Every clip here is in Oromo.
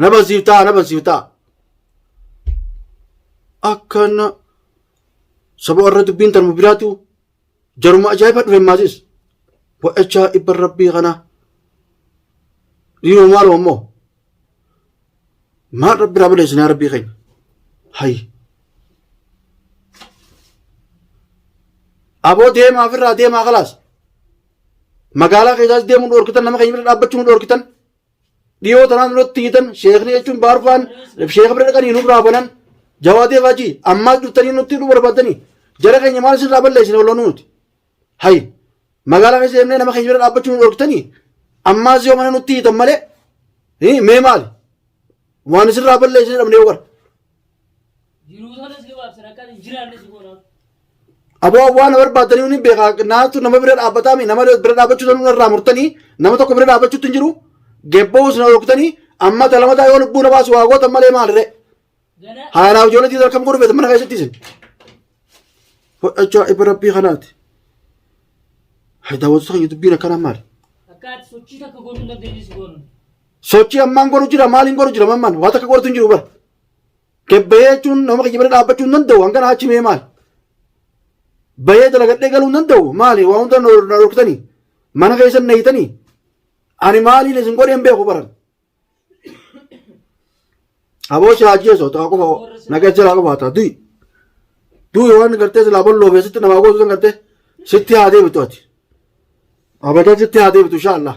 na bansiiftaa na bansiiftaa akkana saba warra dubbiin tarmu biraatu jaruma ajaa'iba dhufe maasis bo'echaa ibban rabbii kana dhiiroo maaloo ammoo maal rabbi irraa balleessinaa rabbii keenya hay aboo deemaa ofirraa deemaa kalaas magaalaa keessaas deemuu dhoorkitan nama keenya bira dhaabbachuu nu dhoorkitan Dhiyoo tanaan duratti hiitan sheekni jechuun baarfaan sheeka bira dhaqanii nuuf raafanan jawaatee faajii ammaas dhuftanii nutti hidhuu barbaadanii jara keenya maal isin raa balleessine waloo nuuti. Hayi magaalaa keessa deemnee nama keenya bira dhaabbachuu nu dhorktanii ammaas yoo mana nutti hiitan malee mee maali waan isin raa balleessine dhabnee yoo gara. Aboo waan na barbaadanii hundi beekaa naatu nama bira dhaabbataa mi nama bira dhaabbachuu sanuu irraa murtanii nama tokko bira dhaabbachuutti hin jiru gebboo isin hooktanii amma talamataa yoo lubbuu na baasu waa gootan malee maalire haalaaf ijoollee tiitar kam godhu beetan mana keessatti isin fudhachaa ifa rabbii kanaati daawwatu sana dubbiin akkanaa maali Akkaati sochii takka godhuu hin dandeenye si goonu. Sochii ammaan godhu jira maaliin godhu jira mamman waan takka godhatu hin jiru bara. Kebbahee jechuun nama kiyya bira dhaabbachuu hin danda'u hangana achi mee maali. Bahee dalagadhee galuu hin danda'u maali waa hunda na dhorkitanii mana keessa na hiitanii ani maaliin isin godhee hin beeku baran. Aboo si haajeesoo ta'a qofa nagaa jalaa qofa ta'a du'i. Du'i waan gartee silaa balloo keessatti namaa gootu san gartee sitti haa deebitu ati. Abadan sitti haa deebitu inshaa Allah.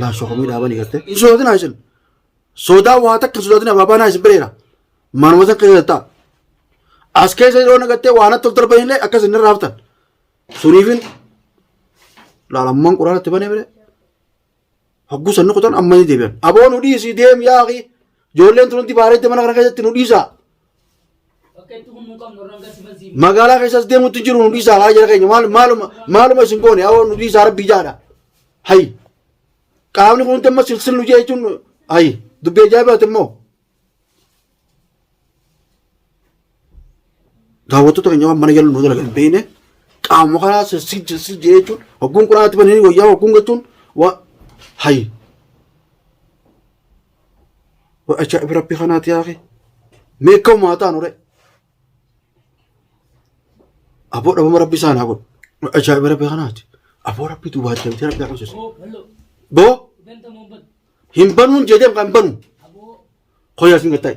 Laa shokomii dhaabanii gartee. Hin sodaatinaa isin. Sodaa waa takka hin sodaatinaa baabaanaa isin bireera. Manuma san keessa ta'a. As keessa yeroo nagattee waa natti of darban illee akkas inni irraa haftan. Suniifin laalammaan quraana itti banee bire. Hogguu sanni kutan amma ni deebi'an. Aboo nu dhiisi deem yaaqi. Ijoolleen tun hundi baareetti mana kana keessatti nu dhiisa. Magaalaa keessas deemutti hin jiru nu dhiisaa haa jala keenya maal- maaluma maaluma isin goone awoo nu dhiisaa rabbii jaadha. Hayi qaamni kun damma silsil nu jee jechuun hayi dubbii ajaa'ibaati immoo. Daawwattoota keenya waan mana jala nu dalagan hin beekne qaamuma kanaa silsil silsil jee jechuun hogguun quraanatti bananii wayyaa hogguun jechuun waa hayi Wa ajaa'iba rabbi kanaati yaaqi. Mee akka uumaa taanu re. Aboo dhabama rabbi isaan haa godhu. Wa ajaa'iba rabbi kanaati. Aboo rabbi duwwaa deemtee rabbi agarsiisa. Boo hin banuun jedhee kan banu. Koyaa isin gattaa'i.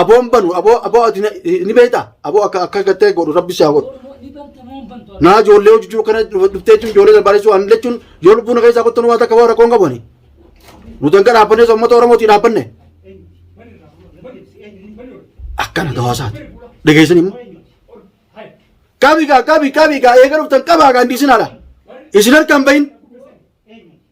Aboon banu aboo aboo ati na- ni beektaa aboo akka akka gattee godhu rabbi si haa godhu. Naa ijoollee hojii jiru kana dhuftee jechuun ijoollee barbaadessu waan jechuun yoo lubbuu na keessaa kottu waan takka waan rakkoon qabani. Nu danga dhaabbanne osoo uummata Oromootii dhaabbanne akkana gawaasaati. Dhageessanii immoo. Qabi gaa qabi qabi gaa eega dhuftan qabaa gaa hin dhiisinaadha. Isin harkaan bahin.